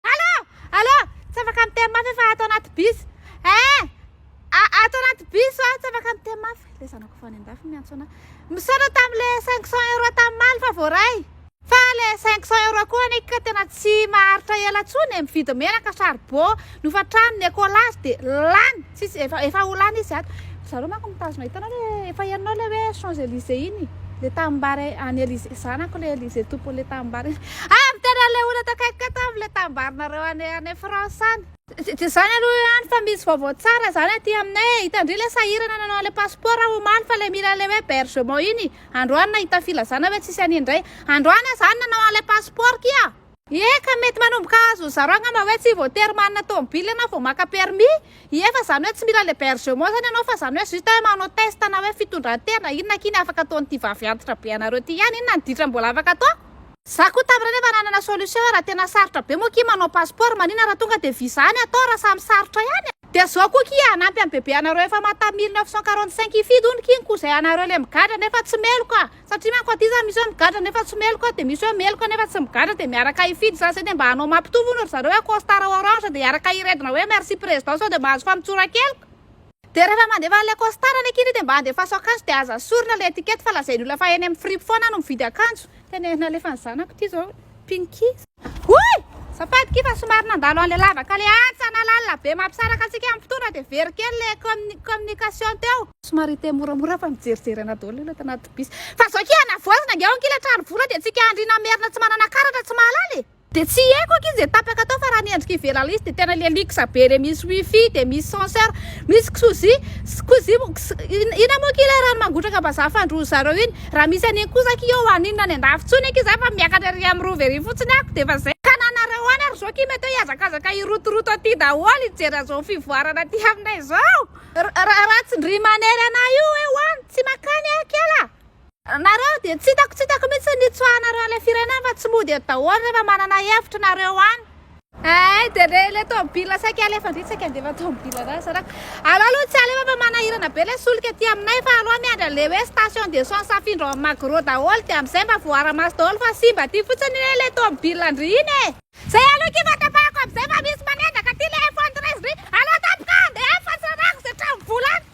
Allô! Allô! Tsy afaka miteny mafy aho fa ato anaty bus. Eh! Ato anaty bus aho, tsy afaka miteny mafy. Ilay zanako avy any an-dafy miantso anà. Misaotra tamin'ilay 500 euros tam'maly fa voaray. Fa ilay 500 euros koa anie ka tena tsy maharitra ela intsony e! Mividy menaka, charbon, nofatrano, ny écolage dia lany. Tsisy efa efa ho lany izy ato. Ry zareo manko mitazona hitanao le efa hianao le hoe Champs Elysées iny le tanimbary any Elysées zanako le Elysées tompony le tanimbary ah miteny an'le olona ato akaiky ato amin'ny le tanimbarinareo any any France any. Tsy izany aloha ihany fa misy vaovao tsara izany aty aminay e, hitandria ilay sahirana nanao an'ilay passeport aho omaly fa ilay mila an'ilay hoe bergement iny androany nahita filazana hoe tsisy an'iny indray androany aho izany nanao an'ilay passeport kia. Ie ka mety manomboka azo ny zaro angamba hoe tsy voatery manana tomobile ianao vao maka permis, ie fa zany hoe tsy mila l'hebergement zany ianao fa zany hoe juste hoe manao test na hoe fitondran-tena inona akia ny afaka ataon'ity vavy antitra be anareo ty ihany inona ny ditra mbola afaka atao? Za koa tam reny efa nanana solution hoe raha tena sarotra be moa akia manao passeport maninona raha tonga dia visa any atao raha samy sarotra ihany e! Dia zao koa akia hanampy an'i bebe anareo efa mata mille neuf cent quarante cinq hifidy hono kin ko zay anareo le migadra nefa tsy meloka Satria manko aty za misy hoe migadra nefa tsy meloka de misy hoe meloka nefa tsy migadra de miaraka hifidy za zay de mba hanao mampitovy hono ry zareo hoe costard orange de hiaraka hiredona hoe merci président sao de mahazo famotsoran-keloka. De rehefa mandefa an'ilay costard any aky ianao de mba andefaso akanjo de aza sorona ilay étiquette fa lazain'ny olona fa eny amin'ny fripe foana aho no mividy akanjo. Tena ery nalefan'ny zanako ity zao. Pinky. Hoy! Safady kiffa somary nandalo an'ilay lavaka ilay antsa na lalina be mampisaraka antsika amin'ny fotoana dia very kely ilay commu communication teo. Somary hiteny moramora fa mijerijery anà daholo ilay tanaty bus. Fa zao akia anavoazina ange ao ankia ilay trano vola dia antsika andriana merina tsy manana karatra tsy mahalala e! Dia tsy haiko ankia izay tapaka tao fa raha ny endrika ivelany izy dia tena ilay luxe be ilay misy wifi dia misy censeur misy ksozy, ksozy, ina moa akia ilay rano mangotraka vazaha fandroan-dry zareo iny? Raha misy anie kosa akia eo an inona any andafy tsony akia za fa miakatra ery am rova ery fotsiny ako de efa zay. Ka na nareo any ary zao ki mety hoe hiazakazaka hirotoroto aty daholo hijery anzao fivoarana aty aminay zao. Ra ra tsy ndry manery anah io hoe ho any tsy makany ah kela ah. Nareo dia tsy hitako tsy hitako mihitsy ny nitsoahanareo an'ilay firenena fa tsy mody eto daholo rehefa manana hevitra nareo any. Eh, dia re ilay tomobila saika alefa indrindra saika handefa tomobila raha zarako. Alao aloha tsy alefa fa manahirana be ilay solika aty aminay fa alao miandry an'ilay hoe station d'essence afindra ao amin'ny Magro daholo dia amin'izay mba voaara-maso daholo fa simba aty fotsiny anie ilay tomobila ndry iny e! Zay aloha akia fahatrapahako amin'izay fa misy manendaka aty ilay F113 ndry! Alao tampoka handeha any fa tsy rarahako izay trano vola any!